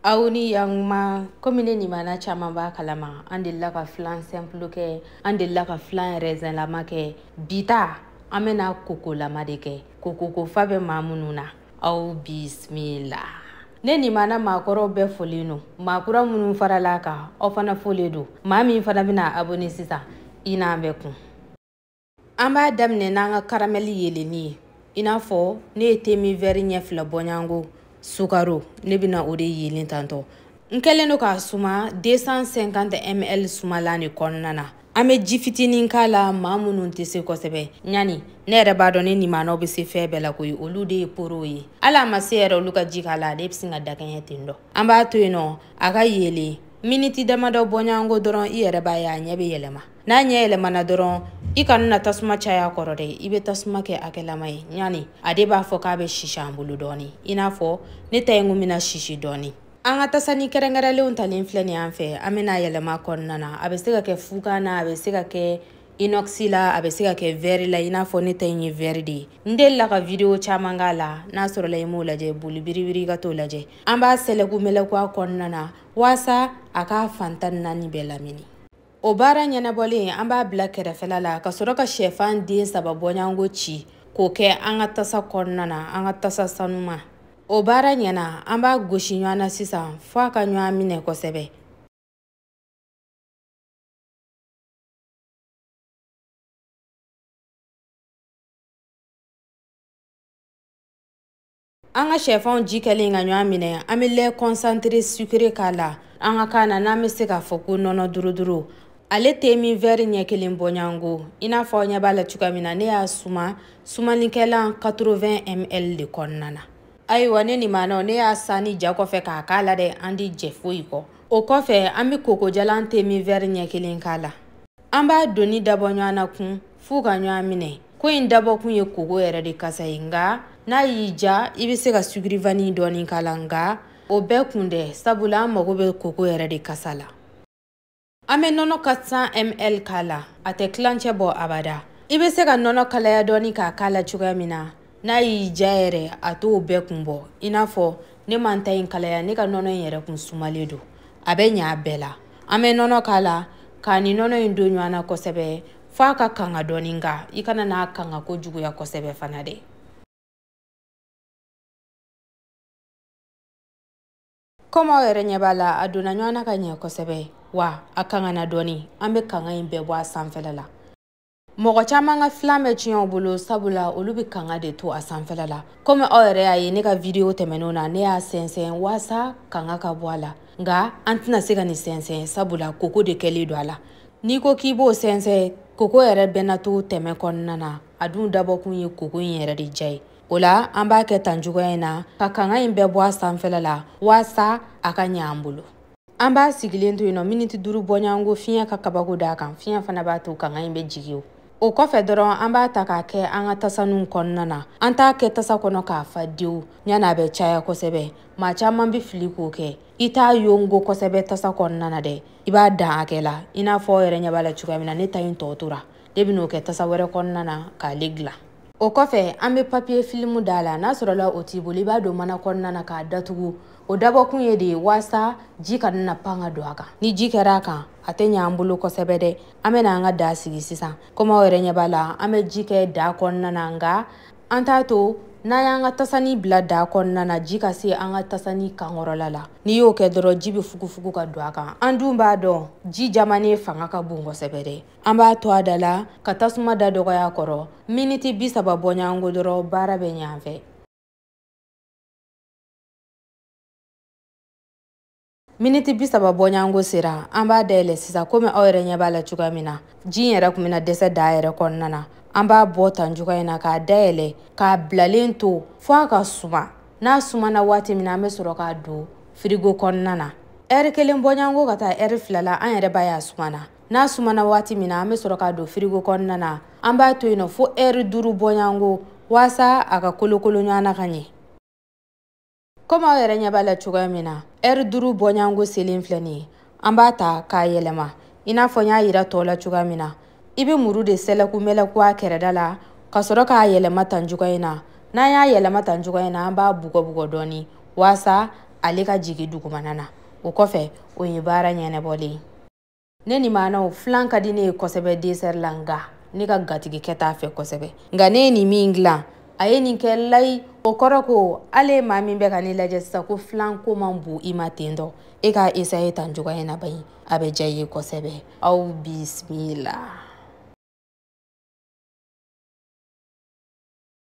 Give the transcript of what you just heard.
aw ni yanguma komi ne nimana caman b'a kalama an delila ka filan sɛnpulu kɛ an delila ka filan rɛzɛnlama kɛ bi ta an bɛna kokolama de kɛ kokoko fa bɛ maa minnu na aw bisimila ne nimana maakɔrɔw bɛɛ folen don maakura minnu faral'an kan aw fana folen don maa min fana bɛna abone sisan i n'an bɛ kun an b'a daminɛ n'an ka karamɛli yelenni ye i n'a fɔ ne ye te min vɛri ɲɛ fila bɔɲango sukaro ne bɛna o de yelen tantɔ n kɛlen don k'a suma 250 ml sumalan de kɔnɔna na an bɛ ji fitinin k'a la maa minnu tɛ se kosɛbɛ ɲani ne yɛrɛ b'a dɔn ne nimanaw bɛ se fɛn bɛɛ la koyi olu de ye porow ye hali a ma se yɛrɛ olu ka ji k'a la ale bɛ sin ka dakɛɲɛ ten dɔ an b'a to yen nɔ a ka yelen miniti damadɔ bɔɲɔgɔnko dɔrɔn i yɛrɛ b'a ye a ɲɛ bɛ yɛlɛma n'a ɲɛ yɛlɛmana dɔrɔn i kana na tasuma caya kɔrɔ dɛ i bɛ tasuma kɛ hakɛlama ye ɲani a de b'a fɔ k'a bɛ sisi an bolo dɔɔni i n'a fɔ ne ta ye n ko bɛna sisi dɔɔni an ka tasani kɛrɛnkɛrɛnlenw talen filɛ nin an fɛ an bɛna yɛlɛma kɔnɔna na a bɛ se ka kɛ fugan na a bɛ se ka kɛ inox la a bɛ se ka kɛ vɛri la i n'a fɔ ne ta in ye vɛri de ye n delila ka video caman k'a la n'a sɔrɔla i m'o lajɛ boli biribiri ka t'o lajɛ an b'a sɛlɛku mɛlɛku a kɔnɔna na waasa a k'a fan tan ni naani bɛɛ lamini o baara ɲɛnabɔlen an b'a bila kɛrɛfɛla la ka sɔrɔ ka shɛfan den saba bɔɲango ci k'o kɛ an ka tasa kɔnɔna na an ka tasa sanuman o baara ɲɛna an b'a gosi ɲɔgɔn na sisan fo a ka ɲɔgɔn minɛ kosɛbɛ an ka shɛfanw ji kɛlen ka ɲɔgɔn minɛ an bɛ lɛ kɔnsantere sukere k'a la an ka kan na n'an bɛ se k'a fɔ ko nɔnɔ duruduru ale te min vɛri ɲɛ kelen bɔɲango i n'a fɔ aw ɲɛ b'a la cogoya min na ne y'a suma sumanikɛlan 80 ml de kɔnɔna na ayiwa ne nimanaw ne y'a saniya kɔfɛ k'a k'a la dɛ an tɛ jɛ foyi kɔ o kɔfɛ an bɛ kokojalan te min vɛri ɲɛ kelen k'a la an b'a donni dabɔ ɲɔgɔn na kun f'u ka ɲɔgɔn minɛ ko in dabɔkun ye koko yɛrɛ de kasa ye nka n'a y'i ja i bɛ se ka sugiri vani dɔɔni k'a la nka o bɛɛ kun tɛ sabula an mago bɛ koko yɛrɛ de kasa la an bɛ nɔnɔ 400 ml k'a la a tɛ tilancɛ bɔ abada i bɛ se ka nɔnɔ kalaya dɔɔni k'a k'a la cogoya min na n'a y'i ja yɛrɛ a t'o bɛɛ kun bɔ i n'a fɔ ne ma n ta in kalaya ne ka nɔnɔ in yɛrɛ kun sumalen don a bɛ ɲa a bɛɛ la an bɛ nɔnɔ k'a la k'a ni nɔnɔ in don ɲɔgɔn na kosɛbɛ f'a ka kanga dɔɔni nka i kana n'a kanga kojuguya kosɛbɛ fana dɛ kɔmi aw yɛrɛ ɲɛ b'a la a donna ɲɔgɔn na ka ɲɛ kosɛbɛ wa a kangana dɔɔni an bɛ kanga in bɛɛ bɔ a sanfɛla la mɔgɔ caman ka filan bɛ tiɲɛ u bolo sabula olu bɛ kanga de to a sanfɛla la komi aw yɛrɛ y'a ye ne ka vidiyo tɛmɛnenw na ne y'a sɛnsɛn waasa kanga ka bɔ a la nka an tɛna se ka nin sɛnsɛn sabula koko de kɛlen don a la n'i ko k'i b'o sɛnsɛn koko yɛrɛ bɛna to tɛmɛ kɔnɔna na a dun dabɔkun ye koko in yɛrɛ de ja ye o la an b'a kɛ tan cogoya in na ka kanga in bɛɛ bɔ a sanfɛla la waasa a ka ɲɛ an bolo an b'a sigilen to yen nɔ miniti duuru bɔɲɔgɔnko fiɲɛ ka kabako d'a kan fiɲɛ fana b'a to kanga in bɛ jigin o kɔfɛ dɔrɔn an b'a ta k'a kɛ an ka tasaninw kɔnɔna na an t'a kɛ tasa kɔnɔ k'a fa dewu ɲani a bɛ caya kosɛbɛ maa caman bɛ fili k'o kɛ i t'a yongo kosɛbɛ tasa kɔnɔna na dɛ i b'a dan hakɛ la i n'a fɔ aw yɛrɛ ɲɛ b'a la cogoya min na ne ta in tɔ tora ne ben'o kɛ tasa wɛrɛ kɔnɔna na k'ale gilan o kɔfɛ an be papiye filimu d'a la n'a sɔrɔla o t'i bolo i b'a don mana kɔnɔna na k'a datugu o dabɔkun ye de ye waasa ji kana na pan ka don a kan ni ji kɛra a kan a tɛ ɲa an bolo kosɛbɛ dɛ an bena an ka daa sigi sisan komi aw yɛrɛ ɲɛ b'a la an be ji kɛ daa kɔnɔna na nka an t'a to n'an y'an ka tasani bila daa kɔnɔna na ji ka se an ka tasani kankɔrɔla la n'i y'o kɛ dɔrɔn ji bɛ fugufugu ka don a kan an dun b'a dɔn ji jamanen fanga ka bon kosɛbɛ dɛ an b'a to a da la ka tasuma da dɔgɔya kɔrɔ miniti bi saba bɔɲɔgɔnko dɔrɔn baara bɛ ɲɛ an fɛ miniti bi saba bɔɲango sera an b'a dayɛlɛ sisan komi aw yɛrɛ ɲɛ b'a la cogoya min na ji in yɛrɛ tun bɛna dɛsɛ daa yɛrɛ kɔnɔna na an b'a bɔ tan cogoya in na k'a dayɛlɛ k'a bilalen to fo a ka suma n'a sumana waati min na an bɛ sɔrɔ k'a don firigo kɔnɔna na ɛri kelen bɔɲango ka taa ɛri fila la an yɛrɛ b'a ye a sumana n'a sumana waati min na an bɛ sɔrɔ k'a don firigo kɔnɔna na an b'a to yen nɔ fo ɛri duuru bɔɲango waasa a ka kolokolo ɲɔgɔn na ka ɲɛ komi aw yɛrɛ ɲɛ b'a la cogoya min na ɛri duuru bɔɲango selen filɛ nin ye an b'a ta k'a yɛlɛma i n'a fɔ n y'a yira tɔw la cogoya min na i bɛ muru de sɛlɛku mɛlɛku a kɛrɛda la ka sɔrɔ k'a yɛlɛma tan cogoya in na n'an y'a yɛlɛma tan cogoya in na an b'a bugɔbugɔ dɔɔni waasa ale ka jigin dugumana na o kɔfɛ o ye baara ɲɛnabɔlen ye ne ni maanaw filan ka di ne ye kosɛbɛ desɛr la nga ne ka gatigikɛ t'a fɛ kosɛbɛ nka ne ye nin min dilan a ye nin kɛ layi o kɔrɔ ko ale maa min bɛ ka ne lajɛ sisan ko filan ko man bon i ma ten dɔ e ka esaye tan cogoya in na bayi a bɛ diya i ye kosɛbɛ aw bisimila